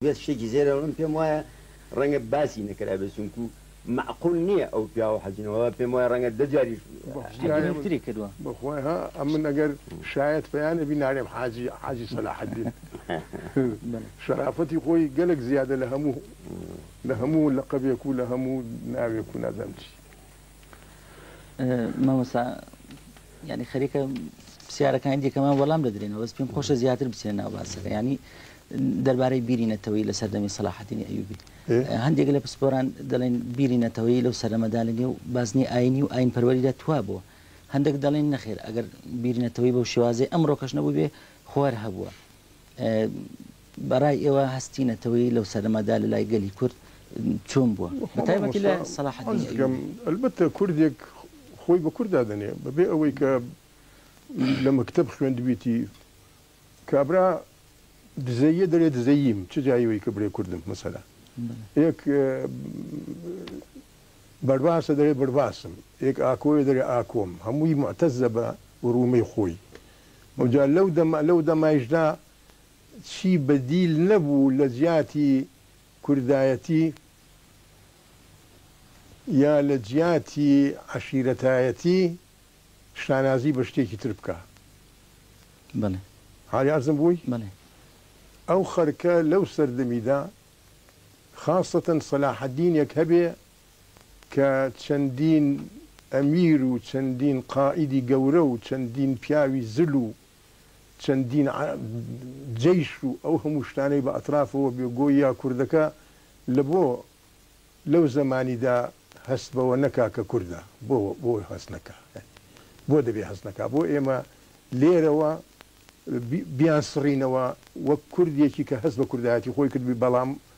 بێت شتێکی زێرە من پێم وایە ڕەنگە باسی نەکرابێت چونکو معقول نییە ئەو پیاوە حەجنەوە پێم وایە ڕەنگە دەجاریش تری کردووە بەخوای ها ئەم من ئەگەر شاید پەیانە بینارێم حاجی حاجی سەلاحەدین شەرافەتی خۆی گەلک زیادە لە هەموو لە هەموو لە قەبێک و لە هەموو ناوێک و نازەمچی مامۆستا یعنی خەریکە پرسیارەکانی دیکەمان وەڵام دەدرێنەوە بەس پێم خۆشە زیاتر بچێن ناو باسەکە ینی دەربارەی بیری نەتەوەی لە سەردەمی سەلاحەتینی ئەیوبی هەندێک لە پسپۆران دەڵێن بیری نەتەوەی لەو سەرەمەدا لە نێو بازنی ئاینی و ئاین پەروەریدا توا بووە هەندێک دەڵێن نەخێر ئەگەر بیری نەتەوەی بەو شێوازی ئەمڕۆ کەش نەبوو بێ خوار هەبووە بەڕای ئێوە هەستی نەتەوەیی لەو سەردەمەدا لە لای گەلی کورد چۆن بووە؟ بە تایبەتی لە سەڵاحەدینی ئەیوبی. مامۆستا عەزیز گیان ئەلبەتە کوردێک خۆی بە کورد دادەنێ بە بێ ئەوەی کە لە مەکتەب خوێندبیتی. کابرا دزەییە دەلێ دزەییم چ جای ئەوەی کە بلێ کوردم مەسەلا. ئێک بەرباسە دەلێ بەرباسم، ئێک ئاکۆیە دەلێ ئاکۆم. هەمووی موعتەزە بە وروومەی خۆی. ئەوجا لەو دەمە لەو دەمایشدا چی بەدیل نەبوو لە جیاتی کوردایەتی یا لە جیاتی عەشیرەتایەتی شانازی بە شتێکی تر بکا. بەڵێ. ئایا عەرزم بووی؟ بەڵێ. ئەو خەرکە لەو سەردەمیدا خاسەتەن سەلاحەدینێک هەبێ کە چەندین ئەمیر و چەندین قائیدی گەورە و چەندین پیاوی زل و چەندین جەیش و ئەو هەموو شتانەی بە ئەترافەوە بێ گۆیا کوردەکە لە بۆ لەو زەمانیدا هەست بەوە نەکا کە کوردە؟ بۆ بۆ هەست نەکا؟ بۆ دەبێ هەست نەکا؟ بۆ ئێمە لێرەوە بیانسڕینەوە وەک کوردێکی کە هەست بە کوردایەتی خۆی کردبی بەڵام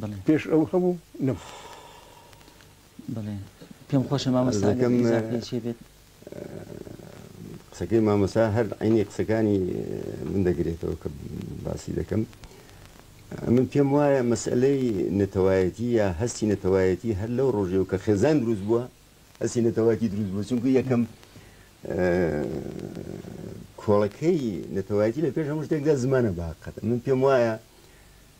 بەڵێ پێش ئەو هەبوو نەم بڵێ پێم خۆشە مامەستاگەمێت قسەکەی مامەسا هەر عینی قسەکانی من دەگرێتەوە کە باسی دەکەم من پێم وایە مەسلەی نەتەوایەتی یا هەستی نەتەوایەتی هەر لەو ڕۆژێ و کە خێزان دروست بووە هەستی نەتەوایەتی دروست بوو چونکە یەکەم کۆڵەکەی نەتەوایەتی لە پێش هەموو شتێکدا زمانە باقەت من پێم وایە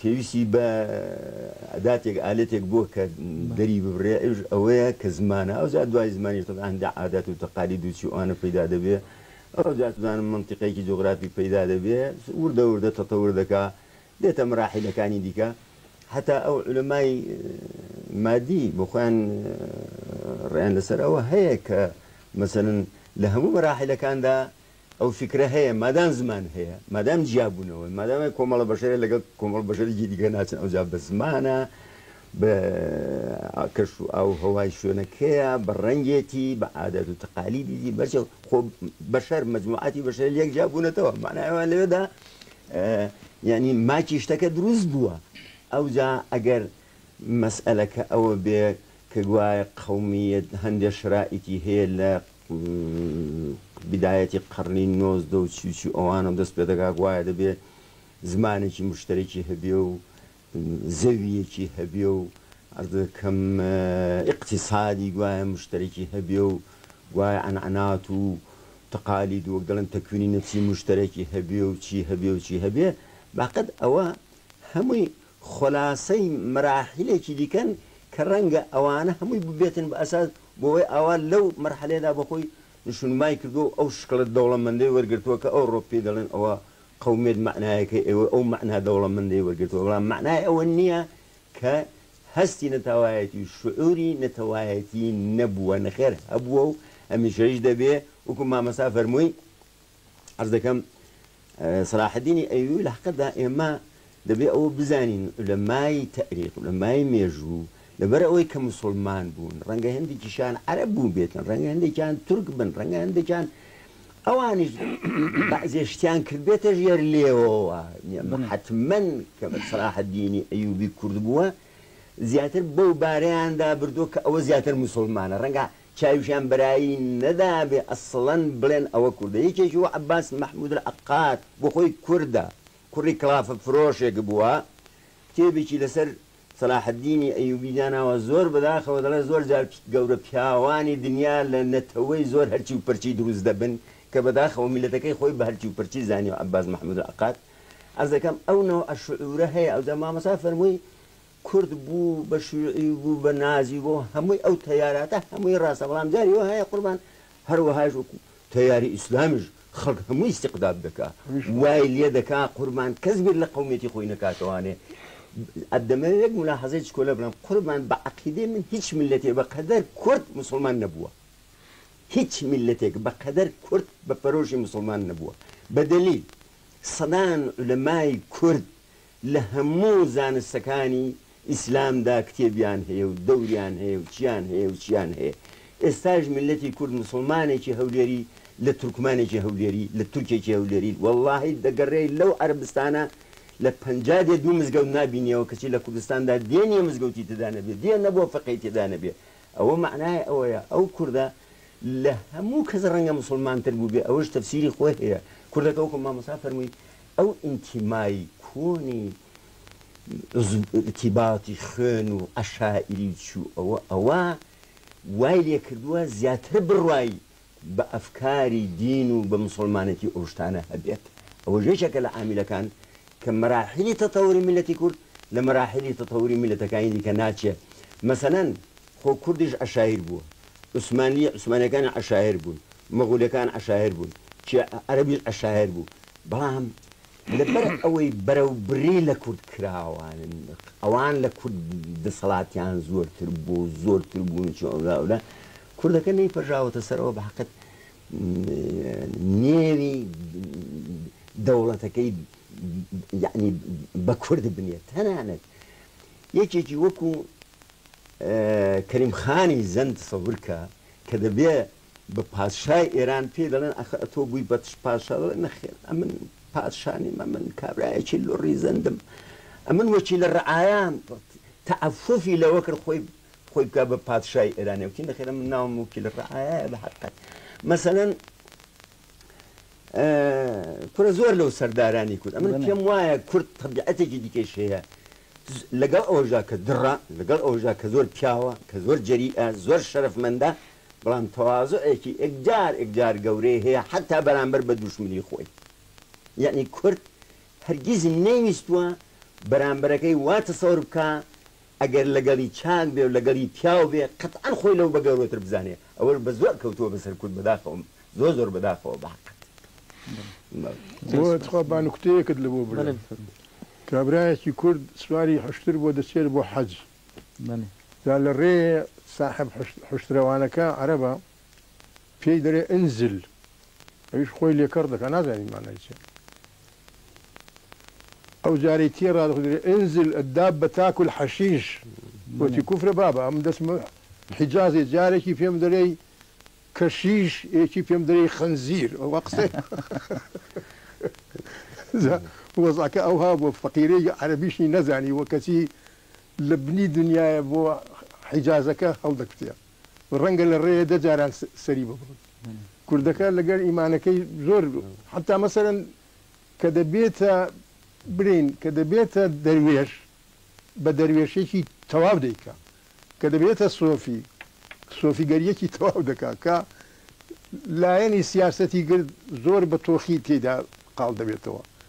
پێویستی بە ئەداتێک ئالەتێک بووە کە دەری ببرێ ئەوش ئەوەیە کە زمانە ئەو زیاد دوای زمانیش تەبعا هەندێک عادات و تەقالید و چی و ئەوانە پەیدا دەبێ ئەو جا توزانم مەنتیقێکی جوغرافی پەیدا دەبێ وردە وردە تەتەور دەکا دێتە مەراحیلەکانی دیکە حتا ئەو علەمای مادی بۆ خۆیان ڕێیان لەسەر ئەوە هەیە کە مەسەن لە هەموو مەراحیلەکاندا ئەو فیکرە هەیە مادام زمان هەیە، مادام جیابوونەوەن، مادام هەیە کۆمەڵە بەشەرە لەگەڵ کۆمەڵە بەشەرێکی دیکە ناچن ئەوجا بە زمانە، بە کەش و ئاو و هەوای شوێنەکەیە، بە ڕەنگێتی، بە عادات و تەقالیدیدی، بەرچاو خۆ بەشەر مەجموعاتی بەشەر لێک جیابوونەتەوە مەعنای ئەوە لەوێدا یانی ماکی شتەکە دروست بووە ئەوجا ئەگەر مەسئەلەکە ئەوە بێ کە گوایە قەومیەت هەندێ شرائیتی هەیە لە بدایەتی قەڕنی نۆزدە و چی و چی ئەوانەو دەست پێ دەکا گوایە دەبێ زمانێکی مشتەرەکی هەبێ و زەوییەکی هەبێ و عەرز دەکەم ئیقتیسادی گوایە مشتەرەکی هەبێ و گوایە عەنعەنات و تەقالید و وەک دەڵێن تەکوینی نەفسی مشتەرەکی هەبێ و چی هەبێ و چی هەبێ بەقەد ئەوە هەمووی خولاسەی مەراحیلێکی دیکەن کە رەنگە ئەوانە هەمووی ببێتن بە ئەساس بۆوەی ئاوا لەو مەرحەلەیەدا بۆ خۆی نشونمای کردووە و ئەو شکڵە دەوڵەمەندەی وەرگرتووە کە ئەوڕۆ پێی دەڵێن ئەوە قەومیەت مەعنایەکەی ئەوەی ئەو مەعنا دەوڵەمەندەی وەرگرتووە بەڵام مەعنای ئەوە نییە کە هەستی نەتاوایەتی و شعوری نەتەوایەتی نەبووە نەخێر هەبووە و هەمیشەیش دەبێ وەکو مامۆستا فەرمووی عەرز دەکەم سەلاحەدینی ئەیوبی لە حەقەتدا ئێمە دەبێ ئەوە بزانین لە مای تەریق لە مای مێژوو لەبەر ئەوەی کە مسلمان بوون ڕەنگە هەندێکیشان عەرب بوو بێتن ڕەنگە هەندێکیان تورک بن ڕەنگە هەندێکیان ئەوانیش بەزێشتیان کرد بێتە ژێر لێەوە حتممەن کە بە سراحە دینی ئەیوبی کورد بووە زیاتر بەو بارەیاندا بردووە کە ئەوە زیاتر مسلمانە ڕەنگە چاویشیان بەرایی نەدابێ ئەسڵەن بڵێن ئەوە کوردە یەکێکی وەک عەباس مەحمود العقاد بۆ خۆی کوردە کوڕی کڵافە فرۆشێک بووە کتێبێکی لەسەر سەلاح الدینی ئەیوبی داناوە زۆر بەداخەوە دەڵێ زۆر جار گەورە پیاوانی دنیا لە نەتەوەی زۆر هەرچی و پرچی دروست دەبن کە بەداخەوە میلەتەکەی خۆی بە هەرچی و پرچی زانیوە عەباس مەحمود العقاد عەرز دەکەم ئەو نەوعە شعورە هەیە ئەوجا مامۆستا فەرمووی کورد بوو بە شیوعی و بوو بە نازی و هەمووی ئەو تەیاراتە هەمووی ڕاستە بەڵام جاری وا هەیە قوربان هەروەهاش وەکو تەیاری ئیسلامیش خەڵک هەمووی ئیستیقداد دەکا وای لێ دەکا قوربان کەس بیر لە قەومیەتی خۆی نەکاتەوانێ دەمەوێ یەک مولاحەزەی چکۆلە بڵێم قوربان بە عەقیدەی من هیچ میللەتێ بە قەدەر کورد موسڵمان نەبووە هیچ میللەتێک بە قەدەر کورد بە پەرۆشی موسڵمان نەبووە بە دەلیل سەدان عولەمای کورد لە هەموو زانستەکانی ئیسلامدا کتێبیان هەیە و دەوریان هەیە و چیان هەیە و چیان هەیە ئێستاش میللەتی کورد موسڵمانێکی هەولێری لە تورکمانێکی هەولێری لە تورکێکی هەولێری وەڵاهی دەگەڕێ لەو عەرەبستانە لە پەنجا دێ دوو مزگەوت نابینیەوە کەچی لە کوردستاندا دێ نیە مزگەوتی تێدا نەبێ دێ نەبووە فقێی تێدا نەبێ ئەوە مەعنای ئەوەیە ئەو کوردە لە هەموو کەس ڕەنگە موسڵمانتر بووبێ ئەوەش تەفسیری خۆی هەیە کوردەکە وەکو مامۆستا فەرمووی ئەو ئینتیمای کۆنی ئیرتیباتی خوێن و عەشائیری چوو ئەوە ئەوە وای لێ کردووە زیاتر بڕوای بە ئەفکاری دین و بە موسوڵمانەتی ئەو شتانە هەبێت ئەوەش یەکێکە لە عاملەکان کە مەراحیلی تەتەوری میللەتی کورد لە مەراحیلی تەتەوری میللەتەکانی دیکە ناچێ مەسەلەن خۆ کوردیش عەشایر بووە، عوسمانلی عوسمانیەکان عەشایر بوون، مەغۆلیەکان عەشایر بوون، چیا عەرەبیش عەشایر بوو، بەڵام لەبەر ئەوەی بەرەوبری لە کورد کراوان، ئەوان لە کورد دەسەڵاتیان زۆرتر بوو، زۆرتر بوون چ ئەورا ئەورا، کوردەکە نەیپەرژاوەتە سەرەوە بەحەقت نێوی دەوڵەتەکەی یەعنی بە کورد بنێت، تەنانەت یەکێکی وەکو، کەریم خانی زەند تەسەور کە کە دەبێ بە پادشای ئێران پێی دەڵێن ئەخە ئەتۆ بووی بە تش پاشا دەڵێ نەخێر ئەمن پادشا نیم ئەمن کابرایەکی لۆڕی زەندم ئەمن وەکیلە ڕعایام تەعەفوفی لەوە کرد خۆی خۆی بکا بە پادشای ئێرانێ وتی نەخێر ئەمن ناوم وەکیلە ڕعایایە بە حەقەت مەسەلەن کورە زۆر لەو سەردارانی کورد ئەمن پێم وایە کورد تەبیعەتێکی دیکەش هەیە لەگەڵ ئەوژا کە دڕە لەگەڵ ئەوژا کە زۆر پیاوە کە زۆر جەری زۆر شەرفمەندە بەڵام تەوازۆەکی ئەکجار ئەکجار گەورەی هەیە حتا بەرامبەر بە دوشمنی خۆی یعنی کورد هەرگیز نەیویستووە بەرامبەرەکەی واتە سەور بکە ئەگەر لەگەڵی چاک بێ و لەگەڵی پیاو بێ قەتعەن خۆی لەو بە گەورەتر بزانێ ئەوەش بە زۆر کەوتووە بەسەر کورد بەداخەوەم زۆر زۆر بەداخەوە بەحەقت بۆ تخوا با نوکتەیەکت لەبۆ بلێم کابرایەکی کورد سواری حشتر بۆ دەچێت بۆ حەج جا لە رێێ ساحب حشترەوانەکە عەرەبە پێی دەرێ انزل ئەویش خۆی لێ کەڕ دەکا نازانی مانای چیە ئەو جارەی تێڕا دەخدرێ انزل الدابە تاکل حەشیش وتی کوفرە بابە ئەم دەچمە حیجازێ جارێکی پێم دەرێی کەشیش ئێکی پێم دەرێی خنزیر ئەوە قسەی جا وەزعەکە ئەوها بووە فەقیرەی عەرەبیشی نەزانی وە کەچی لە بنی دنیایە بۆ حیجازەکە هەڵدەکوتێ ڕەنگە لە ڕێیە دە جاران سەری ببڕن. کوردەکە لەگەر ئیمانەکەی زۆر حەتا مەسەلەن کە دەبێتە برێن کە دەبێتە دەروێش بە دەروێشێکی تەواو دەیکا کە دەبێتە سۆفی سۆفیگەریەکی تەواو دەکا کە لایەنی سیاسەتی گرت زۆر بە تۆخی تێدا قاڵ دەبێتەوە.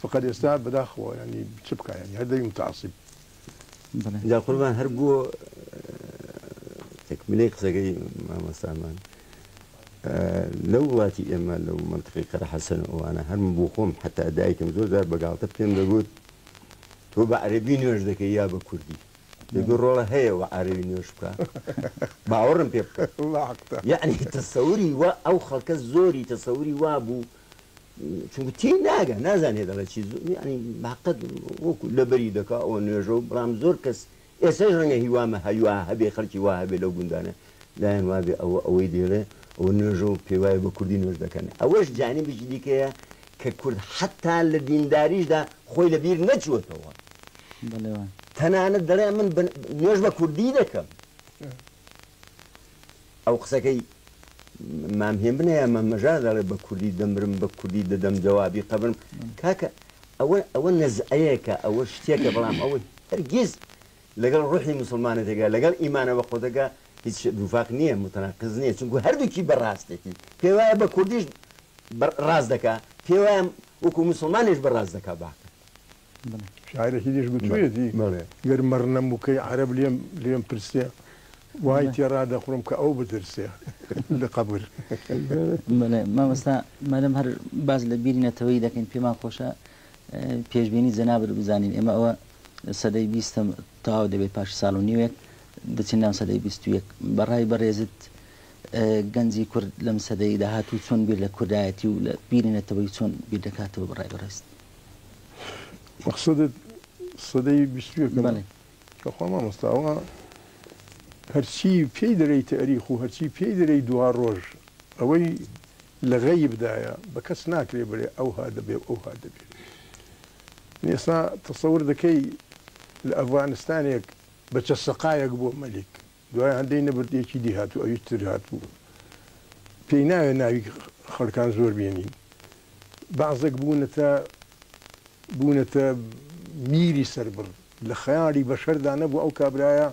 فەقەت ئێستا بەداخەوە یانی چ بکا یانی هەر دەبی متعصب. جا قوربان هەر بۆ تەکملەی قسەکەی مامۆستامان لەو وڵاتی ئێمە لەو مەنتقی قەرەحەسەن و ئەوانە هەر من بۆ خۆم حەتا دایکم زۆر جار بە گاڵتە پێم دەگوت تۆ بە عەرەبی نوێژ دەکەی یا بە کوردی دەگوت ڕۆڵە هەیە و عەرەبی نوێژ بکە باوەڕم پێ بکە یەعنی تەسەوری وا ئەو خەڵکە زۆری تەسەوری وا بوو چونکە تێی ناگە نازانێت دەڵێت چی زۆر ینی باقەت وەکو لەبەری دەکا ئەوە نوێژە و بڕام زۆر کەس ئێسەش ڕەنگە هیوامە هەیوا هەبێ خەڵکی وا هەبێ لەو گوندانە لایەن وابێ ئەوە ئەوەی دێڵێ ئەوە نوێژە و پێوایە بە کوردی نوێژ دەکەن ئەوەش جانبێکی دیکەیە کە کورد حتا لە دینداریشدا خۆی لە بیر نەچووەتەوە تەنانەت دەڵێ من نوێژ بە کوردی دەکەم ئەو قسەکەی مام هێمنە یا مام مەژار دەڵێ بە کوردی دەمرم بە کوردی دەدەم جەوابی قەبرم کاکە ئەوە ئەوە نەزعەیەکە ئەوە شتێکە بەڵام ئەوە هەرگیز لەگەڵ ڕوحی موسڵمانەتێکە لەگەڵ ئیمانە بە خۆتەکە هیچ دووفاق نییە متەناقز نییە چونکو هەردووکی بە ڕاستێتی پێ وایە بە کوردیش ڕاست دەکا پێ وایە وەکو موسڵمانیش بە ڕاست دەکا باقی شاعیرێکی دیش گوتوویەتی، گەر مەڕنەم وکەی عەرەب لێم پرسێ، وای تێ ڕادەخڵم کە ئەو بترسێ لە قەبر. بەڵێ مامۆستا مادەم هەر باس لە بیری نەتەوەیی دەکەین پێمان خۆشە پێشبینی جەنابت بزانین ئێمە ئەوە سەدەی بیستەم تەواو دەبێت پاش ساڵ و نیوێک دەچین ناو سەدەی بیست و یەک بە ڕای بەڕێزت گەنجی کورد لەم سەدەی داهاتوو چۆن بیر لە کوردایەتی و لە بیری نەتەوەی چۆن بیر دەکاتەوە بە ڕای بەڕێزت؟ مەقسەدت سەدەی بیست و یەکەمە؟ بەڵێ. توخوا مامۆستا ئەوە هەرچی پێی دەرێی تەئریخ و هەرچی پێی دەرێی دوارۆژ ئەوەی لە غەیب دایە بە کەس ناکرێ بەرێ ئەوها دەبێ و ئەوها دەبێ من ئێستا تەسەور دەکەی لە ئەڤغانستانێک بە چە سەقایەک بۆ مەلیک دوای هەندەی نەبرد یەکی دی هاتوو ئەویش تر هاتوو پێی ناوێ ناوی خەڵکان زۆر بێنین بەعزەک بوونەتە بوونەتە بیری سەربڕ لە خەیاڵی بەشەردا نەبوو ئەو کابرایە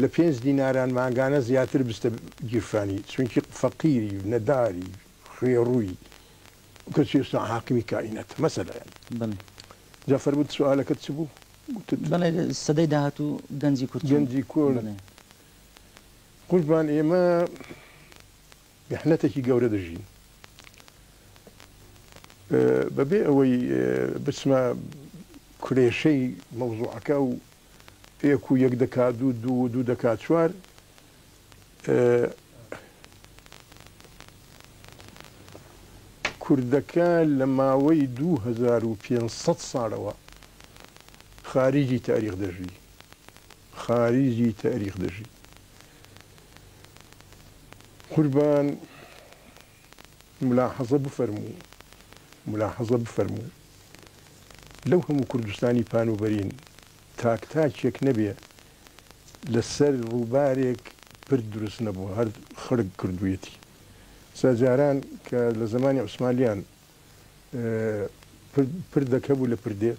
لە پێنج دیناران مانگانە زیاتر بستە گیرفانی چونکی فەقیری و نەداری خوێڕووی کەچی ئێستا حاکمی کائیناتە مەسەلە یانی بەڵێ جا فەرموو سوالەکەت چ بوو گوتت بەڵێ سەدەی داهاتوو گەنجی کورد چۆن گەنجی کورد بەڵێ قوربان ئێمە میحنەتێکی گەورە دەژین بەبێ ئەوەی بچمە کولێشەی مەوزوعەکە و پێک و یەک دەکا دوو دوو و دوو دەکا چوار کوردەکە لە ماوەی دوو هەزار و پێنج سەد ساڵەوە خاریجی تاریخ دەژی خاریجی تاریخ دەژی قوربان ملاحەزە بفەرموو ملاحەزە بفەرموو لەو هەموو کوردستانی پانوبەرین تاک تاکێک نەبێ لەسەر ڕووبارێک پرد دروست نەبووە هەر خەڵک کردوویەتی سا جاران کە لە زەمانی عوسمانلیان پرد پردەک هەبوو لە پردێ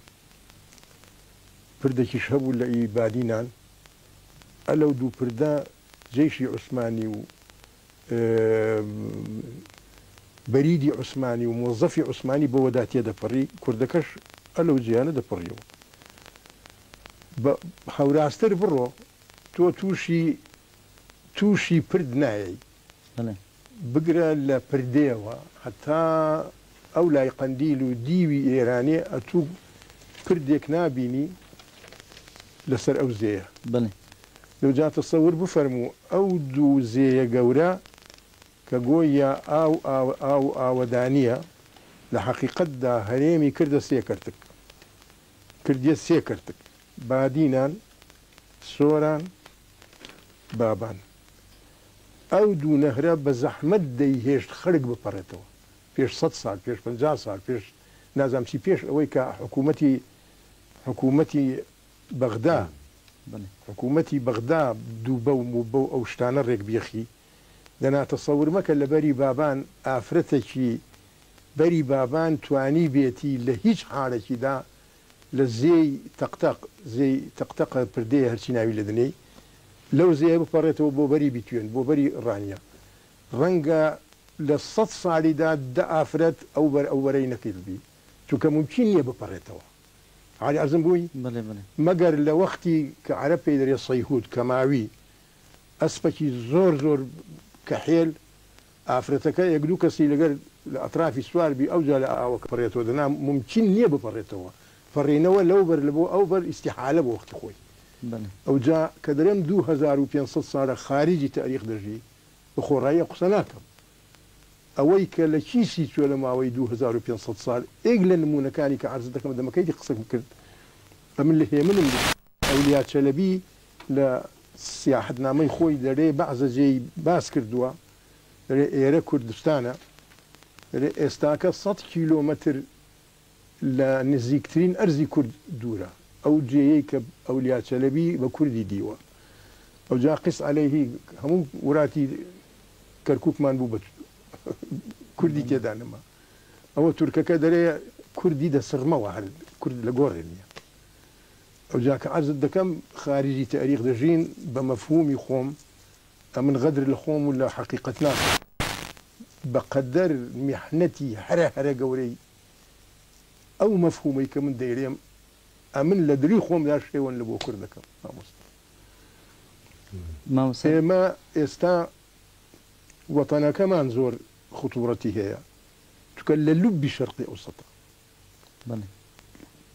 پردەکیش هەبوو لە ئی بادینان ئەلەو دوو پردە جەیشی عوسمانی و بەریدی عوسمانی و مۆزەفی عوسمانی بەوەدا تێدەپەڕی، کوردەکەش ئە لەو جێیانە دەپەڕیەوە. بە هەوراستر بڕۆ، تۆ تووشی تووشی پرد نایەی، بگرە لە پردێوە هەتا ئەو لای قەندیل و دیوی ئێرانێ ئەتوو پردێک نابینی لەسەر ئەو زێیە. بەڵێ. لۆ جا تەسەور بفەرموو ئەو دوو زێیە گەورە کە گۆیا ئاو ئاو و ئاوەدانییە، لە حەقیقەتدا هەرێمی کردە سێ کەرتک. کردیە سێ کەرتک، بادینان، سۆران، بابان. ئەو دوو نەهرە بە زەحمەت دەیهێشت خەرک بپەڕێتەوە. پێش سەد سال پێش پەنجا سال پێش نازام چی پێش ئەوەی کە حکوومەتی حکوومەتی بەغدا حکوومەتی بەغدا دووبە و مووبە و ئەو شتانە ڕێک بیەخی دەنا تەسەور مەکە لە بەری بابان ئافرەتەکی بەری بابان توانی بێتی لە هیچ حالەکی دا لە زێی تەق تەق زێی تەق تەقە پردێ هەرچی ناوی لێ دەنێی لەو زێیە بپەڕێتەوە بۆ بەری بیتوێن بۆ بەری ڕانیە ڕەنگە لە سەد سالیدا دە ئافرەت ئەو بەر ئەو بەرەی نەکردبی چونکە مومکین نیە بپەڕێتەوە عەلی ئەزم بووی مەگەر لە وەختی کە عەرەب پێی دەرێ صیهود کە ماوی ئەسپەکی زۆر زۆر کەحێل ئافرەتەکە یەک دوو کەسی لەگەر لە ئەترافی سوار بی ئەوجا لە ئاوە بپەڕێتەوە دەنا مومکین نیە بپەڕێتەوە پەڕینەوە لەو بەر لە بۆ ئەو بەر ئیستیحالە بۆ وەختی خۆی ئەوجا کە دەرێم دوو هەزار و پێنج سەد سالە خاریجی تاریخ دەژی بە خۆڕایی قسە ناکەم. ئەوەی کە لە کیسی چۆ لە ماوەی دوو هەزار و پێنج سەد سال، ئێک لە نموونەکانی کە عەرز دەکەم دەمە کەیتی قسەکم کرد، ئەمن لە هێمنم بوو. ئەولیا چەلەبی لە سیاحەتنامەی خۆی لە رێ بەعزە جێی باس کردووە، دەرێ ئێرە کوردستانە، دەرێ ئێستاکە سەد کیلۆمەتر لە نزیکترین ئەرزی کورد دوورە، ئەو جێیەی کە ئەولیا چەلەبی بە کوردی دیوە، ئەوجا قس علیه هەموو وراتی کەرکوکمان بوو بە کوردی تێدا نەما، ئەوە تورکەکە دەرێ کوردی دەسڕمەوە هەر کورد لە گۆڕێ نیە. ئەوجا کە عەرزت دەکەم خارجی تاریخ دەژین بە مەفهومی خۆم، ئەمن غەدر لە خۆم و لە حەقیقەت ناکەم. بەقەدەر میحنەتی هەرە هەرە گەورەی ئەو مەفهومەی کە من دەیلێم ئەمن لە دلی خۆمدا شێوەن لە بۆ کورد دەکەم مامۆستا ئێمە ئێستا وەتەنەکەمان زۆر خوتوڕەتی هەیە چونکە لە لوبی شەرقی ئەوسەتە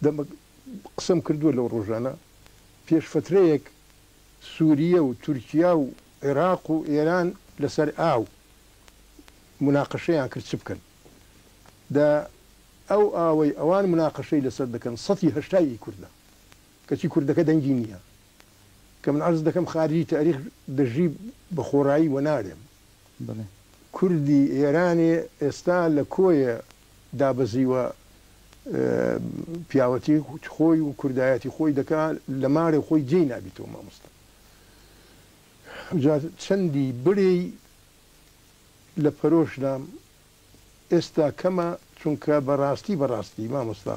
دەمەک قسەم کردووە لەو ڕۆژانە، پێش فەترەیەک سووریە و تورکیا و عێراق و ئێران لەسەر ئاو موناقەشەیان کرد چ بکەن. دە ئەو ئاوەی ئەوان موناقەشەی لەسەر دەکەن سەتی هەشتای ئی کوردە. کەچی کوردەکە دەنگی نییە. کە من عەرز دەکەم خارجی تاریخ دەژی بە خۆڕایی وەنارێم. کوردی ئێرانێ ئێستا لە کۆیە دابەزیوە پیاوەتی خۆی و کوردایەتی خۆی دەکا لە مارێ خۆی جێی نابیتەوە مامۆستا جا چەندی برێی لە پەرۆش دام ئێستا کەمە چونکە بەڕاستی بەڕاستی مامۆستا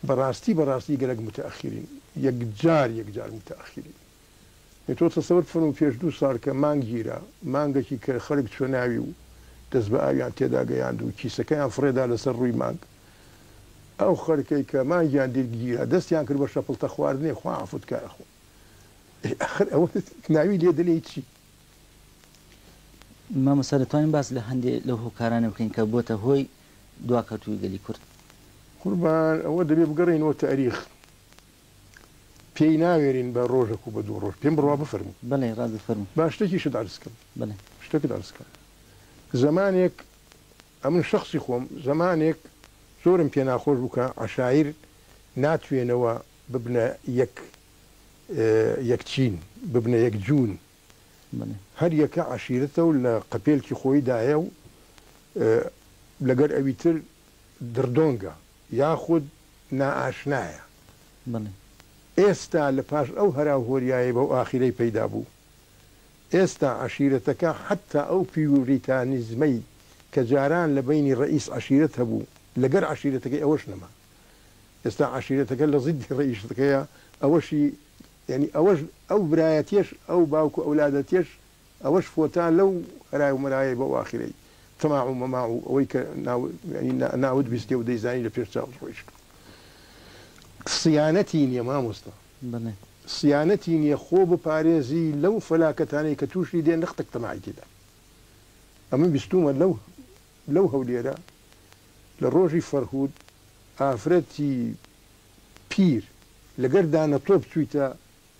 بەڕاستی بەڕاستی گەلەک متەئەخیرین یەکجار یەکجار متەئەخیرین ئێ تۆ تەسەور بفەرموو پێش دوو ساڵ کە مانگ گیرا، مانگەکی کەر خەرک چووە ناوی و دەست بە ئاویان تێدا گەیاند و کیسەکەیان فڕێدا لەسەر ڕووی مانگ. ئەو خەرکەی کە مانگیان دیر گیرا دەستیان کرد بە شەپڵتە خواردنێ خوا عەفوت کا ئەخۆ. ئێ ئاخر ئەوە ناوی لێ دەنێی چی؟ مامۆستا دەتوانین باس لە هەندێ لەو هۆکارانە بکەین کە بۆتە هۆی دواکەوتووی گەلی کورد؟ قوربان ئەوە دەبێ بگەڕێینەوە تاریخ. پێی ناوێرین بە ڕۆژەک و بە دوو ڕۆژ پێم بڕوا بفەرموو. بەڵێ ڕاست بفەرموو. با شتێکیشت عەرز کەم. بەڵێ. شتێکت عەرز کەم. زەمانێک ئەمن شەخسی خۆم زەمانێک زۆرم پێ ناخۆش بوو کە عەشایر ناتوێنەوە ببنە یەک یەک چین، ببنە یەک جوون. هەر یەکە عەشیرەتە و لە قەپێلکی خۆی دایە و لەگەر ئەوی تر دڕدۆنگە یاخود نائاشنایە. ئێستا لە پاش ئەو هەرا و هۆریایەی بەو ئاخیرەی پەیدا بوو، ئێستا عەشیرەتەکە حەتتا ئەو پیوریتانیزمەی کە جاران لە بەینی ڕەئیس عەشیرەت هەبوو لەگەر عەشیرەتەکەی ئەوەش نەما. ئێستا عەشیرەتەکە لە زیدی ڕەئیشتەکەیە ئەوەشی یانی ئەوەش ئەو برایەتیەش ئەو باوک و ئەولادەتیەش ئەوەش فۆتا لەو هەرای و مەرایەی بەو ئاخرەی تەماع و مەماع و ئەوەی کە ناو یانی ناوت بیستێ و دەیزانی لە پێش چاوت ڕۆیشتوە سیانەتی نیە مامۆستا سیانەتی نیە خۆ بپارێزی لەو فەلاکەتانەی کە توشی دێ نەختەک تەماعی تێدا ئەمن بیستومە لەو لەو هەولێرە لە ڕۆژی فەرهود ئافرەتی پیر، لەگەر دانە تۆپ چوویتە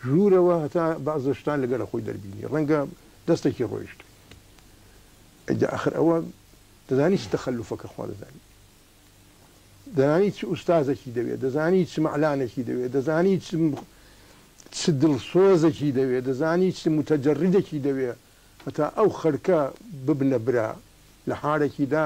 ژوورەوە هەتا بەعزە شتان لەگەر خۆی دەربینی ڕەنگە دەستەکی ڕۆیشتبی ئەی دە ئەخر ئەوە دەزانی چ تەخەلوفەکە خوا دەزانی دەزانی چ ئوستازەکی دەوێ دەزانی چ مەعلانێکی دەوێ دەزانی چ چ دڵسۆزەکی دەوێ دەزانی چ متەجەڕیدەکی دەوێ هەتا ئەو خەرکە ببنە برا لە حارەکیدا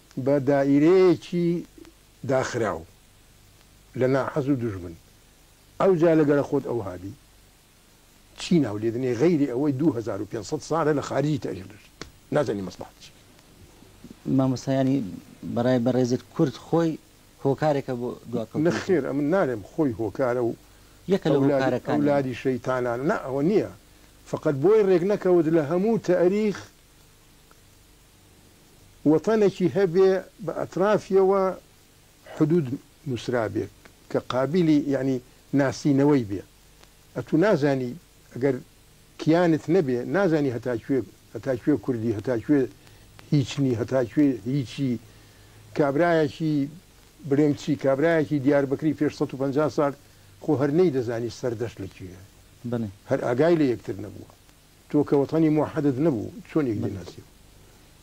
بە دائیرەیەکی داخراو لە ناحەز و دوژمن ئەوجا لە گەرە خۆت ئەو هادی چی ناو لێ دنێ غەیری ئەوەی دوو هەزار و پێنج سەد سالە لە خارجی تە ئیغلش نازانی مەسڵەحەت چی. مامۆستا یانی بەڕای بەڕێزت کورد خۆی هۆکارێکە بۆ دواکەوتنی خۆی؟ نەخێر ئەمن نالێم خۆی هۆکارە و یەکە لە هۆکارەکان یانی. ئەولادی شەیتانانە نا ئەوە نیە فەقەت بۆی ڕێک نەکەوت لە هەموو تەئریخ وەتەنەکی هەبێ بە ئەترافیەوە حدود نوسرابێ کە قابیلی یەعنی ناسینەوەی بێ ئەتو نازانی ئەگەر کیانت نەبێ نازانی هەتا کوێ هەتا کوێ کوردی هەتا کوێ هیچنی هەتا کوێ هیچی کابرایەکی برێمچی کابرایەکی دیاربەکری پێش سەد و پەنجا سال خۆ هەر نەیدەزانی سەردەشت لە کوێیە بەلێ. هەر ئاگای لە یەکتر نەبوە. تۆ کە وەتەنی موحەدت نەبوو چۆن یەک دەیناسی؟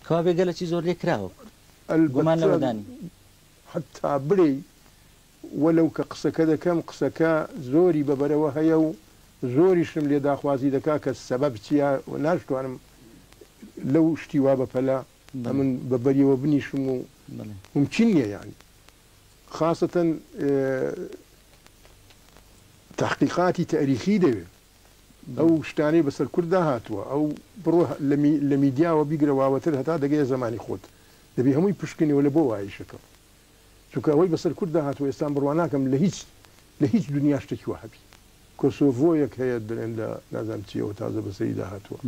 کوا بێ گەلەکی زۆر لێ کراوە کورد گومان لەوە دا نیە. حەتا بلێی وەلەو کە قسەکە دەکەم قسەکە زۆری بە بەرەوە هەیە و زۆریشم لێ داخوازی دەکا کە سەبەب چیە و ناشتوانم لەو شتی وا بە پەلە ئەمن بە بەریەوە بنیشم و مومکین نیە یانی خاسەتەن تەحقیقاتی تاریخی دەوێ. ئەو شتانەی بەسەر کورددا هاتووە ئەو بڕۆ لە میدیاوە بیگرە واوەتر هەتا دەگەیە زەمانی خۆت دەبی هەمووی پشکنیەوە لە بۆ وایشەکەم چونکە ئەوەی بەسەر کورددا هاتووە ئێستا بڕوا ناکەم لە هیچ لە هیچ دنیا شتێکی وا هەبی کۆسۆڤۆیەک هەیە دەێن لە نازام چیەوە تازە بەسەری داهاتووە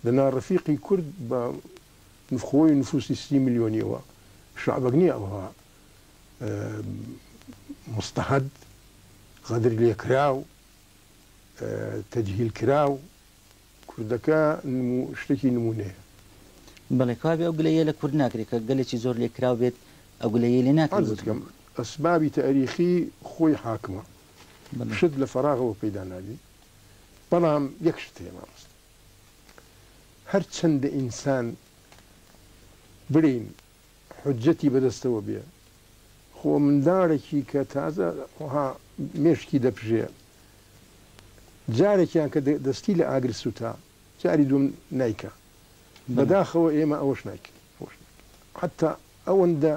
دەنا ڕفیقی کورد بە نفخۆی نفوسی سی ملیۆنیەوە شعبەک نییە ئەوها مستەهد غەدر لێکراو تەجهیل کراو کوردەکە نمو شتەکی نمونەیە. بەڵێ کەوابێ ئەو گلە یە لە کورد ناکرێ کە گەلێکی زۆر لێ کراو بێت ئەو گلە یەی لێ ناکرێ عەرزت کەم ئەسبابی تاریخی خۆی حاکمە شت لە فەراغەوە پەیدا نابی بەڵام یەک شت هەیە مامۆستا هەر چەندە ئینسان برین حوجەتی بەدەستەوە بێ خۆ منداڵێکی کە تازە ها مێشکی دەپژێ جارێکیان کە دەستی لە ئاگر سوتا جاری دوم نایکا بەداخەوە ئێمە ئەوەش نایکن حتا ئەوەندە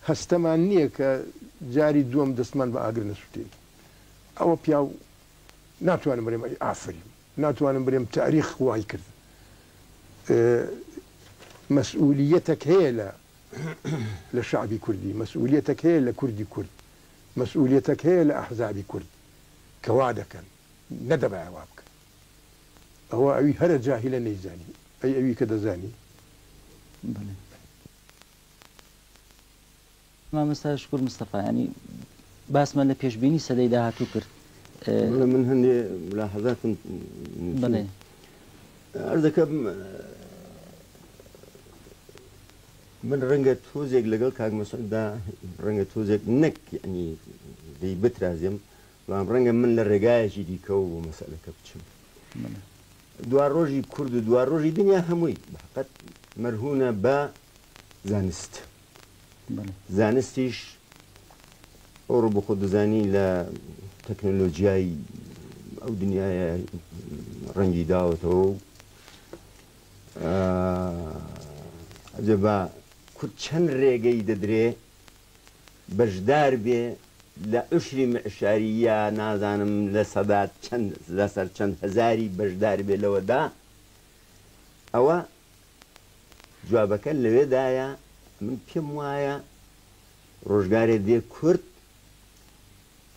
هەستەمان نییە کە جاری دووەم دەستمان بە ئاگر نەسووتێت ئەوە پیاو ناتوانم بڵێم ئەی ئافرین ناتوانم برێم تاریخ وای کرد مەسئولیەتەک هەیە لە لە شەعبی کوردی مەسئولیەتەک هەیە لە کوردی کورد مەسئولیەتەک هەیە لە ئەحزابی کورد کە وا دەکەن نەدەبایە وا بکەن ئەوە ئەوی هەرە جاهیلە نەیزانی ئەی ئەوی کە دەزانی. مامۆستا شکور مستەفا یانی باسمان لە پێشبینی سەدەی داهاتوو کرد. بەڵێ من هەندێ ملاحەزاتم نووسی. بەڵێ. عەرز دەکەم من ڕەنگە تۆزێک لەگەڵ کاک مەسعوددا ڕەنگە تۆزێک نەک یانی لێی بترازێم، بەڵام ڕەنگە من لە ڕێگایەکی دیکەوە بۆ مەسەلەکە بچم. دوا ڕۆژی کورد و دوا ڕۆژی دنیا هەمووی بەقەد مەرهوونە بە زانست. زانستیش ئەو ڕۆ بۆخۆ دەزانی لە تەکنەلۆجیای ئەو دنیاە ڕەنگی داوەتەوە و ئەجە بە کورد چەند ڕێگەی دەدرێ بەشدار بێ لە عشری معشاری یا نازانم لە سەدات چەند لەسەر چەند هەزاری بەشدار بێ لەوەدا ئەوە جوابەکە لەوێدایە من پێم وایە ڕۆژگارێ دێ کورد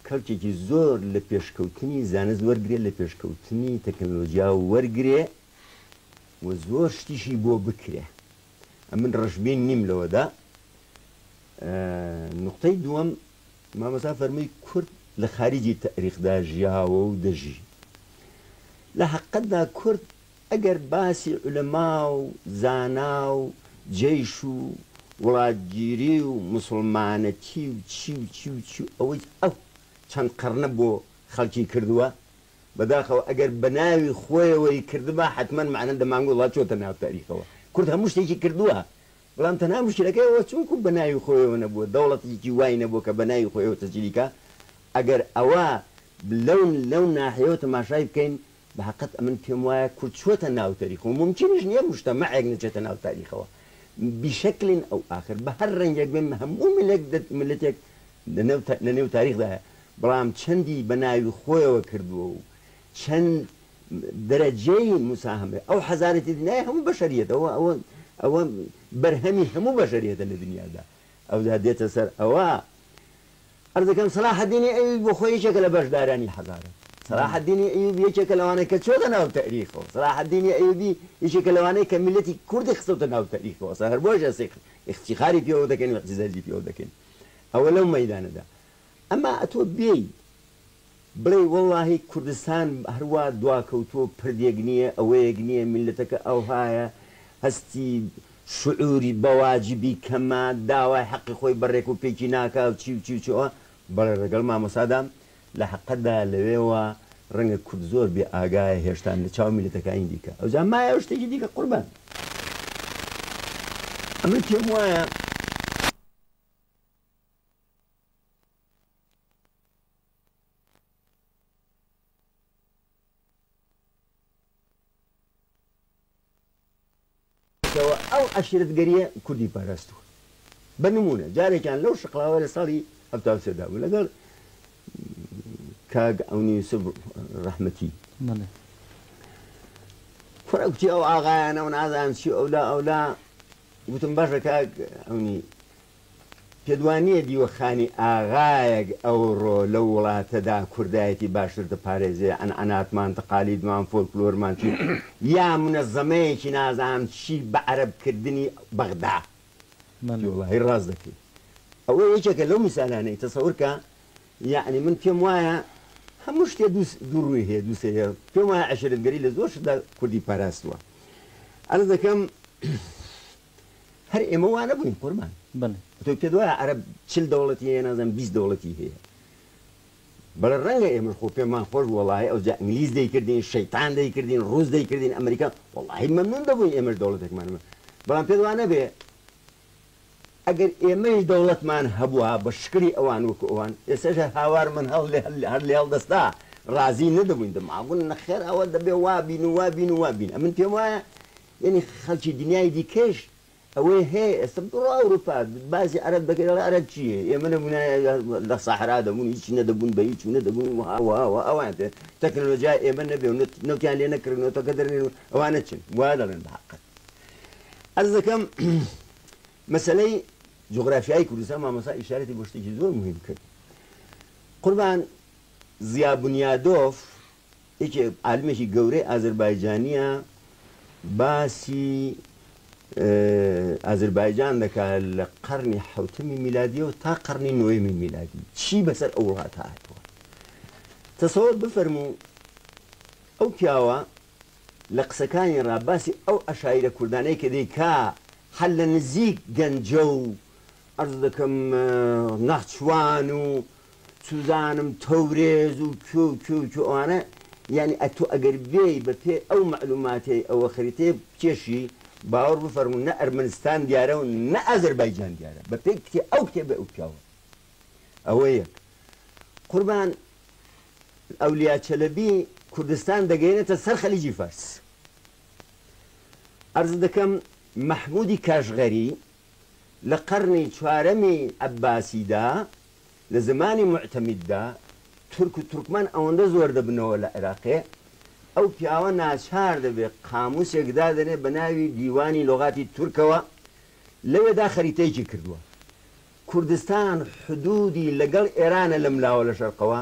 کەلکێکی زۆر لە پێشکەوتنی زانست وەرگێ لە پێشکەوتنی تەکنەلۆجیا وەرگێ و زۆر شتیشی بۆ بکرێ ئەمن ڕژبین نیم لەوەدا نقطەی دووەم مامەسا فەرمووی کورد لە خارجی تاریخدا ژیاوە و دەژی لە حقەتدا کورد ئەگەر باسی عولەما و زانا و جەیش و وڵاتگیری و موسڵمانەتی و چی و چی و چی و ئەوەی ئەو چەند قەڕنە بۆ خەڵکی کردووە، بەداخەوە ئەگەر بە ناوی خۆیەوەی کردبا حەتمەن مەعنا دەمانگوت وەڵا چۆتە ناو تاریخەوە. کورد هەموو شتێکی کردووە، بەڵام تەنها موشکیلەکەی ئەوە چونکوو بە ناوی خۆیەوە نەبووە، دەوڵەتێکی وای نەبووە کە بە ناوی خۆیەوە تەجلیکا، ئەگەر ئەوە لەو لەو ناحیەوە تەماشای بکەین بەهەقەت ئەمن پێم وایە کورد چووەتە ناو تەریخەوە مومکینیش نیە موجتەمەعێک نەچێتە ناو تاریخەوە بیشەکلن ئەو ئاخر بە هەر رەنگێک بێن هەموو ملێک دە ملەتێک لە نێو تاریخدایە بەڵام چەندی بە ناوی خۆیەوە کردووە و چەند دەرەجەی موساهەمەی ئەو حەزارەی تێ دنیای هەموو بەشەریەت ئەوە ئەوە ئەوە بەرهەمی هەموو بەشەریەتە لە دنیادا ئەوجا دێتە سەر ئەوە عەرز دەکەم سەلاحەدینی ئەیوبی بۆ خۆی یەکێکە لە بەشدارانی هەزاران. سەلاحەدینی ئەیوبی یەکێکە لەوانەی کە چۆتە ناو تەئریخەوە. سەلاحەدینی ئەیوبی یەکێکە لەوانەی کە میللەتی کوردی خستۆتە ناو تەئریخەوە. سە هەر بۆیەش ئێستا ئیفتیخاری پێوە دەکەین و ئیعتیزازی پێوە دەکەین. ئەوە لەو مەیدانەدا. ئەما ئەتۆ بێی بڵێی وەڵاهی کوردستان هەروا دواکەوتووە و پردێک نییە ئەوەیەک نییە میللەتەکە ئەوهایە هەستی شعوری بەواجبی کەمە داوای حەقی خۆی بە ڕێک و پێکی ناکا و چی و چی و چۆ بەڵێ ڕێگەڵ مامۆستادام لە حەقەدا لەوێوە ڕەنگە کورد زۆر بێ ئاگایە هێشتان لە چاو میللەتەکانی دیکە ئەوجا مایە و شتێکی دیکە قوربان ئەمن پێم وایە. کەوە ئەو عەشیرەتگەرییە کوردی پاراستووە. بە نموونە جارێکیان لەو شقڵاوە لە ساڵی هەفتا و سێ دا بوو لەگەڵ کاک عەونی یوسف ڕەحمەتی بەڵێ کوڕە گوتی ئەو ئاغایانە و نازانم چی و ئەولا ئەولا گوتم باشە کاک عەونی پێتوانییە دیوەخانی ئاغایەک ئەوڕۆ لەو وڵاتەدا کوردایەتی باشتر دەپارێزێ، عەنعەناتمان، تەقالیدمان، فۆلکلۆرمان چی، یا مونەزەمەیەکی نازانم چی بە عەرەب کردنی بەغدا؟ بەڵێ. وەڵاهی ڕاست دەکەی. ئەوە یەکێکە لەو میسالانەی، تەسەور کە یەعنی من پێم وایە هەموو شتێ دوو دوو ڕووی هەیە، دوو سەری هەیە. پێم وایە عەشرەتگەری لە زۆر شتدا کوردی پاراستووە. عەرز دەکەم. هەر ئێمە وا نەبووین قوربان بەڵێ تۆ پێت وایە عەرەب چل دەوڵەتی هەیە نازانم بیست دەوڵەتی هەیە بەڵێ ڕەنگە ئێمەش خۆ پێمان خۆش بوو وەڵاهی ئەوجا ئینگلیز دەیکردین شەیتان دەیکردین ڕووس دەیکردین ئەمریکا وەڵاهی مەمنوون دەبووین ئێمەش دەوڵەتێکمان هەبێ بەڵام پێت وا نەبێ ئەگەر ئێمەیش دەوڵەتمان هەبووە بە شکلی ئەوان وەکو ئەوان ئێستاش هەر هاوارمان هەڵ لێ هەل هەر لێ هەڵدەستا ڕازی نەدەبووین دە ماگوون نەخێر ئەوە دەبێ وا بین و وا بین و وا بین ئەمن پێم وایە یەنی خەلکی دنیای دیکەیش ئەوەی هەیە ئێستا بڕۆ ئەوروپا بازی عەرەب دەکەی دەڵێ عەرەب چیە ئێمە نەبونایە لە سەحرا دەبون هیچ نەدەبون بە هیچ و نەدەبون وەها وەها وەها ئەوان پێ تەکنەلۆجیای ئێمە نەبێ و نەت نەوتیان لێ نەکرن و تەکە دەرنێن و ئەوانە چن وا دەڵێن بە حەقەت عەرز دەکەم مەسەلەی جوغرافیای کوردستان مامۆستا ئیشارەتی بۆ شتێکی زۆر مهم کرد قوربان زیا بنیادۆف یەکێ عالمێکی گەورەی ئازربایجانیە باسی ئازربایجان دەکا لە قەرنی حەوتمی میلادیەوە تا قەرنی نۆیەمی میلادی چی بەسەر ئەو وڵاتە هاتووە تەسەوەر بفەرموو ئەو پیاوە لە قسەکانی ڕا باسی ئەو عەشایرە کوردانەی کە دەیکا حەل لە نزیک گەنجە و عەرز دەکەم ناخچوان و چوزانم تەورێز و کێ و کێ و کێ ئەوانە یانی ئەتۆ ئەگەر بێی بە پێ ئەو مەعلوماتەی ئەوە خەریتەیە بکێشی باوەڕ بفەرموو نە ئەرمەنستان دیارە و نە ئازەربایجان دیارە بە پێی کتێ ئەو کتێبەی ئەو پیاوە ئەوە یەک قوربان ئەولیا چەلەبی کوردستان دەگەینێتە سەر خەلیجی فارس عەرز دەکەم مەحمودی کاشغەری لە قەرنی چوارەمی عەباسیدا لە زمانی موعتەمیددا تورک و تورکمان ئەوەندە زۆر دەبنەوە لە عێراقێ، ئەو پیاوە ناچار دەبێ قامووسێک دادەنێ بە ناوی دیوانی لغاتی تورکەوە، لەوێدا خەریتەیەکی کردووە. کوردستان حدوودی لەگەڵ ئێرانە لەم لاوە لە شەرقەوە،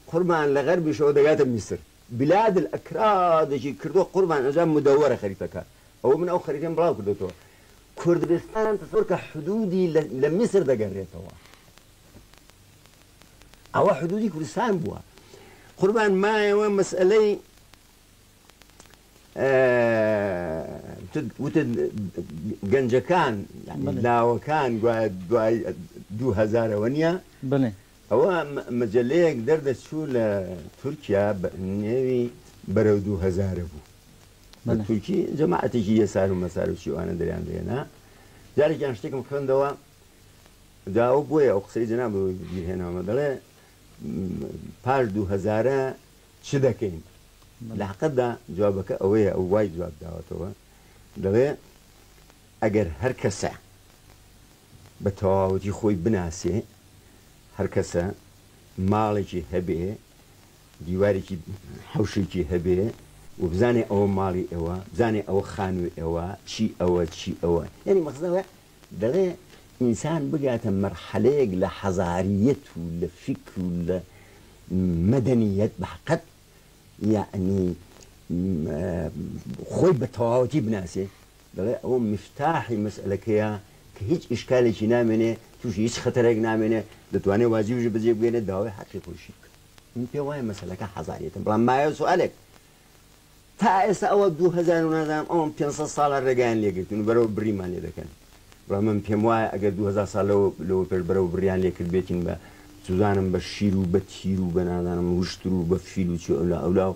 قوربان لە غەربیشەوە دەگاتە میسر. بلاد الاکرادێکی کردووە قوربان ئەجا مدەوەرە خەریتەکە. ئەوە من ئەو خەریتەم بڵاو کردۆتەوە. کوردستان چونکە حدودی لە میسر دەگەرێتەوە ئەوە حدودی کوردستان بووە قوربان مایەوە مەسئلەی وتت گەنجەکان لاوەکان دوای دوهزارەوە نیە بڵێ ئەوە مەجەلەیەک دەردەچوو لە تورکیا نێوی بەرەو دوو هەزارە بوو بە تورکی جەماعەتێکی یەسار و مەسار و چیوانە دەریان دێنا جارێکیان شتێکم خوێندەوە داوە بۆیە ئەو قسەی جەنا بۆ بیرهێنامە دەڵێ پاش دوو هەزارە چ دەکەین لە حقەتدا جوابەکە ئەوەیە ئەو وای جواب داوەتەوە دەڵێ ئەگەر هەر کەسە بە تەواوەتی خۆی بناسێ، هەر کەسە ماڵێکی هەبێ، دیوارێکی حەوشێکی هەبێ و بزانێ ئەوە ماڵی ئێوە، بزانێ ئەوە خانووی ئێوە، چی ئەوە، چی ئەوە. یانی مەقسەد ئەوەیە دەڵێ ئینسان بگاتە مەرحەلەیەک لە حەزارییەت و لە فیکر و لە مەدەنییەت بە حەقەت یانی خۆی بە تەواوەتی بناسێ، دەڵێ ئەوە میفتاحی مەسئەلەکەیە کە هیچ ئیشکالێکی نامێنێ تووشی هیچ خەتەرێک نامێنێ دەتوانێ واجبیش بەجێ بگەێنێ داوای حەقی خۆیشی بکا من پێ وایە مەسەلەکە حەزاریەتە بەڵام مایە سوالێک تا ئێستا ئەوە 2000 نازانم ئەوم 500 ساڵە ڕێگەیان لێگرتن و بەرەوە بریمان لێ دەکەن بەڵام من پێم وایە ئەگەر 2000 سال لەوە لەوە پێش بەرەوە بریان لێ کرد بێتین بە سوزانم بە شیر و بە تیر و بە نازانم وشتر و بە فیل و چی ئەولا ئەولا و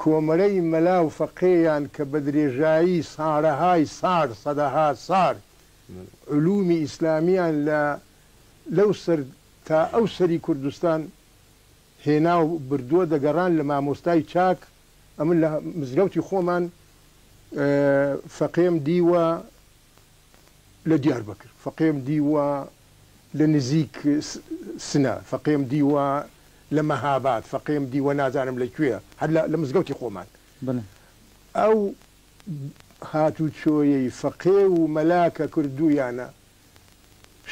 کۆمەرەی مەلا و فەقێیان کە بە درێژایی سارەهای سار، سەدەها سار، علومی ئیسلامیان لە لەو سەر تا ئەو سەری کوردستان هێنا و بردووە دەگەڕان لە مامۆستای چاک، ئەمن لە مزگەوتی خۆمان فەقێم دیوە، لە دیاربەکر فەقێم دیوە لە نزیک سنە فەقێم دیوە لە مەهاباد فەقێم دیوە نازانم لە کوێ هەر لە مزگەوتی خۆمان ئەو هاتوچۆیەی فەقێ و مەلا کە کردوویانە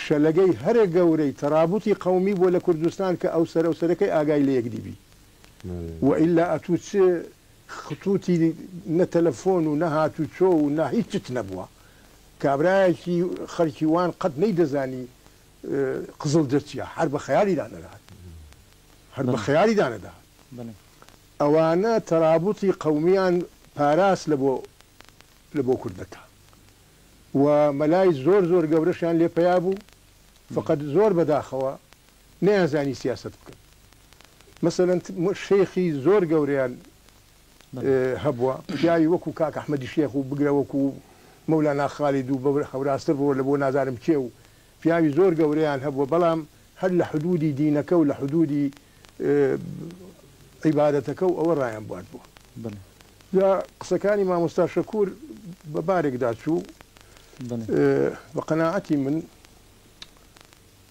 شەلەگەی هەرە گەورەی تەرابوتی قەومی بووە لە کوردستان کە ئەو سەرەو سەرەکەی ئاگای لە یەکدی بی وە ئیلا ئەتوو چ خطوتی نە تەلەفۆن و نە هاتوچۆ و نە هیچ شت نەبوە کابرایەکی خەلکی وان قەت نەیدەزانی قزڵجە چیە هەر بە خەیالیدا نەدەهات هەر بە خەیالیدا نەدەهات ئەوانە تەرابوتی قەومیان پاراست لە بۆ لە بۆ کوردەکە و مەلای زۆر زۆر گەورەشیان لێ پەیا بو فەقەت زۆر بەداخەوە نەیانزانی سیاسەت بکەن مەسەلەن شێخی زۆر گەورەیان هەبووە پیاوی وەکو کاک ئەحمەدی شێخ و بگرە وەکو مەولانا خالید و بەورە هەوراستر بڕۆ لە بۆ نازانم کێ و پیاوی زۆر گەورەیان هەبووە بەڵام هەر لە حدوودی دینەکە و لە حدوودی عیبادەتەکە و ئەوە ڕایان بواردووە جا قسەکانی مامۆستا شەکوور بە بارێکدا چوو بە قەناعەتی من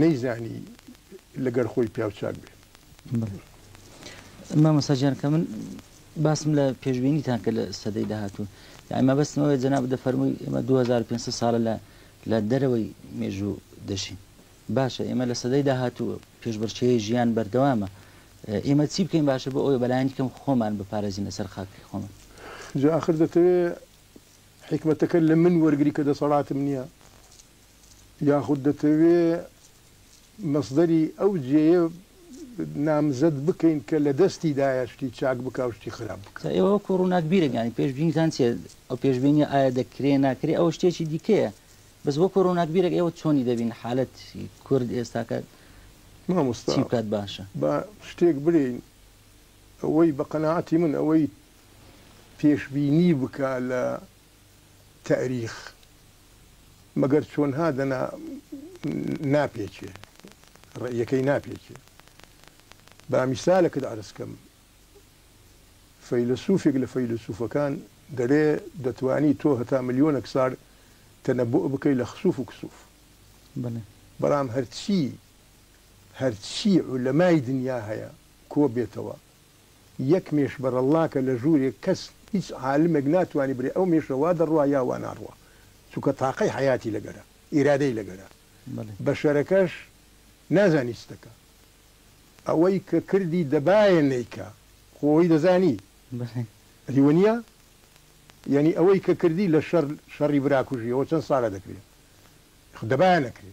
نەیزانی لەگەر خۆی پیاو چاک بێ. بەڵێ مامۆستا گیان کە من باسم لە پێشبینیتان کە لە سەدەی داهاتوو یاعی مەبەستم ئەوەیە جەناب دەفەرمووی ئێمە 2500 ساڵە لە لە دەرەوەی مێژوو دەژین باشە ئێمە لە سەدەی داهاتوو پێشبڕکێی ژیان بەردەوامە ئێمە چی بکەین باشە بۆ ئەوەی بەلایەنی کەم خۆمان بپارێزینە سەر خاکی خۆمان جا ئاخر دەتەوێ حیکمەتەکە لە من وەرگری کە دەسەڵاتم نییە یاخود دەتەوێ مەسدەری ئەو جێیە نامزەد بکەین کە لە دەستی دایە شتی چاک بکا و شتی خراپ بکا. جا ئێوە وەکوو ڕووناکبیرێک یانی پێشبینیتان چییە؟ ئەو پێشبینییە ئایا دەکرێ، ناکرێ ئەوە شتێکی دیکەیە. بەس وەکوو ڕووناکبیرێک ئێوە چۆنی دەبینن حالەتی کورد ئێستاکە مامۆستا چی بکات باشە؟ با شتێک برێین ئەوەی بە قەناعەتی من ئەوەی پێشبینی بکا لە تاریخ مەگەر چۆنها دەنا ناپێکێ ڕێیەکەی ناپێکێ با میسالەکت عرزکەم فەیلسوفێک لە فەیلسوفەکان دەرێ دەتوانی تۆ هەتا ملیۆنەک سار تەنە بۆ بکەی لە خسوف و کسوف بەڵام هەرچی هەرچی و لەمای دنیا هەیە کۆ بێتەوە یەک مێش بەرەڵڵاکە لە ژوورێک کەس هیچ عالمێک ناتوانی برێ ئەو مێشە وا دەڕوا یا وا ناڕوا چونکە تاقەی حەیاتی لەگەرە ئیرادەی لەگەرە بەشەرەکەش نازانی چ دەکا ئەوەی کە کردی دەبایە نەیکا خۆ ئەوەی دەزانی ئەدی وەنیە یانی ئەوەی کە کردی لە شەر شەڕی براکوژی ئەوە چەند ساڵە دەکرێ خ دەبایە نەکرێ.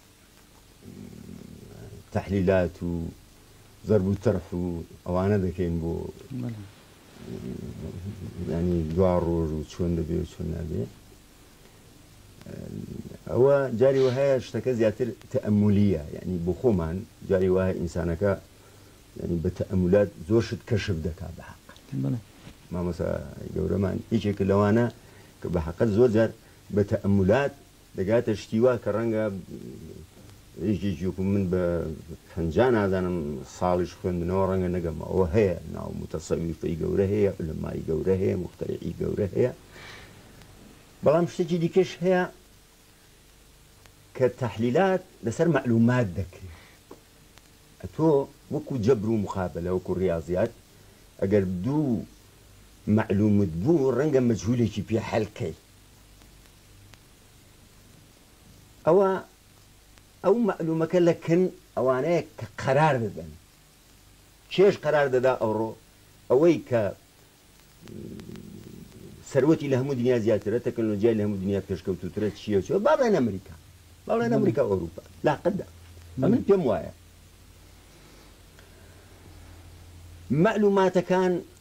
تەحلیلات و زەرب و تەرح و ئەوانە دەکەین بۆ ینی دوا ڕۆژ و چۆن دەبێ و چۆن نابێ ئەوە جاری وهەیە شتەکە زیاتر تەمولیە یعنی بۆ خۆمان جاری وایە ئینسانەکە ینی بە تەمولات زۆر شت کەشف دەکا بە حق مامەسا گەورەمان یەکێک لەوانە کە بە حقت زۆر جار بە تەمولات دەگاتە شتی وا کە ڕەنگە یەکێکی وەکو من بە پەنجا نازانم ساڵیش خوێندنەوە ڕەنگە نەگەمە ئەوە هەیە ناو موتەسەویفی گەورە هەیە علەمای گەورە هەیە مختەرعی گەورە هەیە بەڵام شتێکی دیکەش هەیە کە تەحلیلات لەسەر معلومات دەکرێت ئەتۆ وەکو جەبر و مخابلە وەکو ڕاضیات ئەگەر دوو معلومت بوو ڕەنگە مەجهولێکی پێ حەلکەی ئەوا ئەو مەعلومەکە لە کن ئەوانەیە کە قەرار دەدەن کێش قەرار دەدا ئەوڕۆ ئەوەی کە سەروەتی لە هەموو دنیا زیاترە تەکنۆلۆژیای لە هەموو دنیا پێشکەوتوترە چیە چۆ با بڵێن ئەمریکا با بڵێن ئەمریکا ئەوروپا لاقدا من پێم وایە معلوماتەکان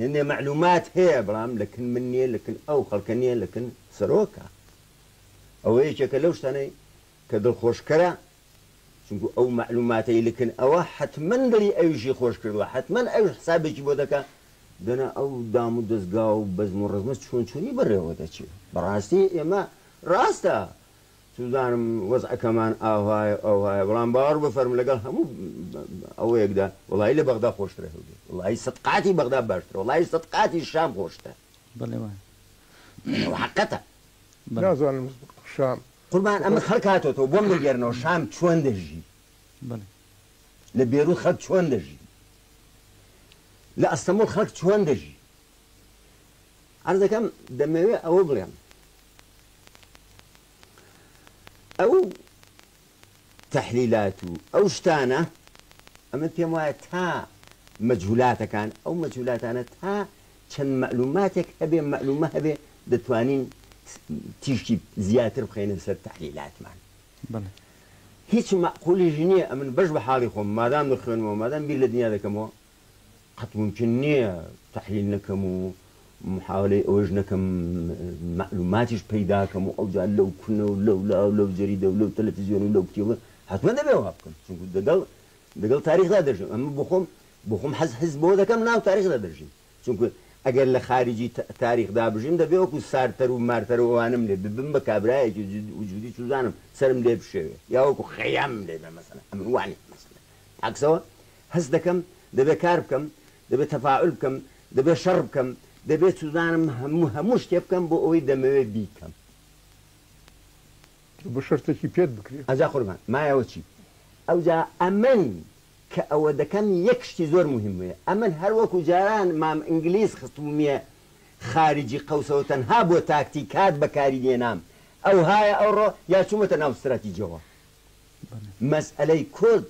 هێندێ مەعلومات هەیە بەڵام لە کن من نیە لە کن ئەو خەڵکە نیە لە کن سەرۆکە ئەوە یەکێکە لەو شتانەی کە دڵ خۆش کەرە چونکو ئەو مەعلوماتەی لە کن ئەوە حەتمەن دڵی ئەویشی خۆش کردوە حەتمەن ئەوش حسابێکی بۆ دەکا دەنا ئەو دام و دەزگا و بەزم و ڕەزمە چۆن چۆنی بەڕێوە دەچێ بەڕاستی ئێمە ڕاستە سوزانم وەزعەکەمان ئاوایە ئاوایە بەڵام باوەڕ بفەرموو لەگەڵ هەموو ئەوەیەکدا وەڵایی لە بەغدا خۆشترە هەولێر وەڵایی سەد قاتی بەغدا باشترە وەڵایی سەد قاتی شام خۆشترە بەڵێ وایە ئەوە حەقەتە. نازانم شام. قوربان ئەمە خەڵک هاتۆتەوە بۆم دەگێرنەوە شام چۆن دەژی بەڵێ لە بێروت خەڵک چۆن دەژی لە ئەستەموڵ خەڵک چۆن دەژی عەرزەکەم دەمەوێ ئەوە بڵێم ئەو تەحلیلات و ئەو شتانە ئەمن پێم وایە تا مەجهولاتەکان ئەو مەجهولاتانە تا چەند مەعلوماتێک هەبێ مەعلومە هەبێ دەتوانین تیشکی زیاتر بخەینە سەر تەحلیلاتمان بەڵێ هیچ مەعقولیش نییە ئەمن بەش بە حاڵی خۆم مادام دەخوێنمەوە مادام بیر لە دنیا دەکەمەوە قەت مومکن نیە تەحلیل نەکەم و محاولەی ئەوەش نەکەم مەعلوماتیش پەیداکەم و ئەوجا لەو کونە و لەولا و لەو جەریدە و لەو تەلەفزیۆن و لەو کتێبە حەتمەن دەبێ وا بکەم چونکو دەگەڵ دەگەڵ تاریخدا دەژیم ئەمە بۆخۆم بۆخۆم حەز حەز بەوە دەکەم ناو تاریخدا دەژیم چونکو ئەگەر لە خاریجی تاریخدا بژیم دەبێ وەکو سارتەر و مارتەر و ئەوانم لێ ببم بە کابرایەکی جدی وجودی چوزانم سەرم لێ بشێوێ یا وەکو خەیام لێ بێ مەسەلەن ئەمن وا نیم مەسەلەن عەکسەوە هەست دەکەم دەبێ کار بکەم، دەبێ تەفاعول بکەم، دەبێ شەڕ بکەم، دەبێ چوزانم هەموو هەموو شتێ بکەم بۆ ئەوەی دەمەوێ بیکەم. دەبێ شەرتێکی پێت بکرێ. ئەجا قوربان مایەوە چی؟ ئەوجا ئەمن کە ئەوە دەکەم یەک شتی زۆر موهیم هەیە، ئەمن هەر وەکو جاران مام ئینگلیز خستبومیە خارجی قەوسەوە تەنها بۆ تاکتیکات بەکاری دێنام، ئەوهایە ئەوڕۆ یا چومەتە ناو ستراتیجەوە. مەسئەلەی کورد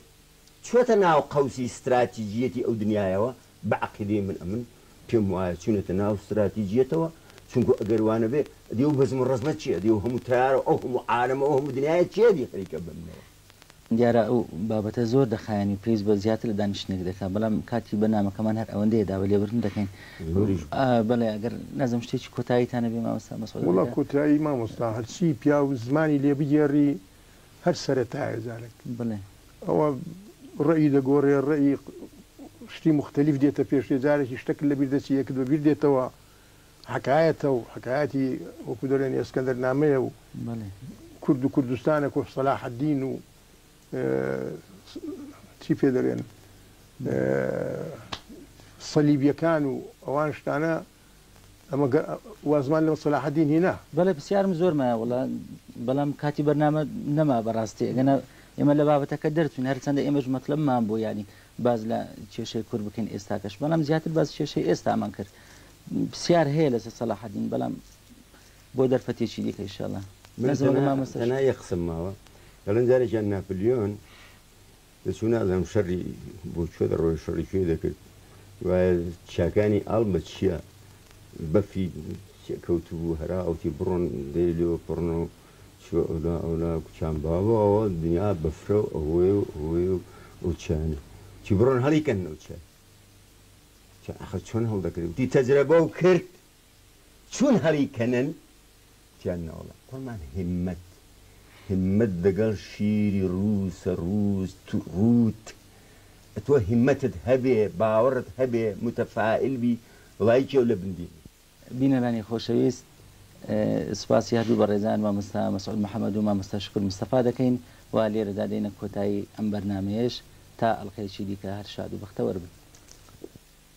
چووەتە ناو قەوسی ستراتیجییەتی ئەو دنیایەوە، بە عەقیدەی من ئەمن پێم وایە چوونەتە ناو ستراتیجییەتەوە، چونکوو ئەگەر وا نەبێ ئەدی ئەو بەزم و ڕەزمە چییە؟ ئەدی ئەو هەموو تەیارە و ئەو هەموو عالەم و ئەو هەموو دنیایە چییە ئەدی خەریکە بمنەوە؟ دیارە ئەو بابەتە زۆر دەخایەنی و پێویست بە زیاتر لە دانیشتنێک دەکا، بەڵام کاتی بەرنامەکەمان هەر ئەوەندەیە دا بە لێبوردن دەکەین. زۆریش بوو. بەڵێ ئەگەر نازم شتێکی کۆتایی تان هەبێ مامۆستا مەسعود عەلی وەڵا کاک. کۆتایی مامۆستا هەرچی پیاو زمانی لێ بگێڕی هەر سەرەتایە جارێک. بەڵێ. ئەوە ڕەئی دەگۆڕێ ڕەئی شتی موختەلیف دێتە پێش تێ جارێکی شتەک لەبیر دەچی یەکت بەبیر دێتەوە حەکایەتە و حەکایەتی وەکو دەلێن ئێسکەندەر نامەیە و کورد و کوردستانە کۆ سەلاحەدین و چی پێ دەلێن سەلیبیەکان و ئەوان شتانە ئەمە گە وازمان لەو سەلاحەدین هینا. بەڵێ پرسیارم زۆر مایە وەڵا بەڵام کاتی بەرنامە نەما بەڕاستی ئەگەنا ئێمە لە بابەتەکە دەرچوین هەرچەندە ئێمەش مەتلەبمان بوو یانی باس لە کێشەی کورد بکەین ئێستاکەش بەڵام زیاتر باس کێشەی ئێستامان کرد پرسیار هەیە لەسەر سەلاحەدین بەڵام بۆ دەرفەتێکی دیکە ان شاء اللە من بەس وەک تەنها مامۆستا تەنها یەک قسەم ماوە دەڵێن جارێکیان ناپلیۆن دەچوو نازانم شەڕی بۆ کوێ دەڕۆی شەڕی کوێ دەکرد وایە چیاکانی ئاڵ بە چییە بەفری کەوتبوو هەرا ئەوتی بڕۆن دەی لێوە پڕن و چوە ئەولا ئەولا کوچان باوە ئەوە دنیا بەفرە و ئەوەیە و ئەوەی و ئەو چیانە چی بڕۆن هەڵیکەن ئەو چیە ئەخە چۆن هەڵدەکرێت وتی تەجرەبە و کرد چون هەڵی کەنن تیان ناوڵا قورمان هیممەت هیممەت دەگەڵ شیری ڕووسە ڕووس تو ڕووت ئەتۆ هیممەتت هەبێ باوەڕت هەبێ موتەفائل بی ڵایکی ئەو لە بن دێنێ. بینەرانی خۆشەویست سوپاسی هەردوو بەڕێزان مامۆستا مەسعود محەمەد و مامۆستا شوکور مستەفا دەکەین و لێرەدا دێنە کۆتایی ئەم بەرنامەیەش تا ئەڵقەیەکی دیکە هەر شاد و بەختەوەر بن.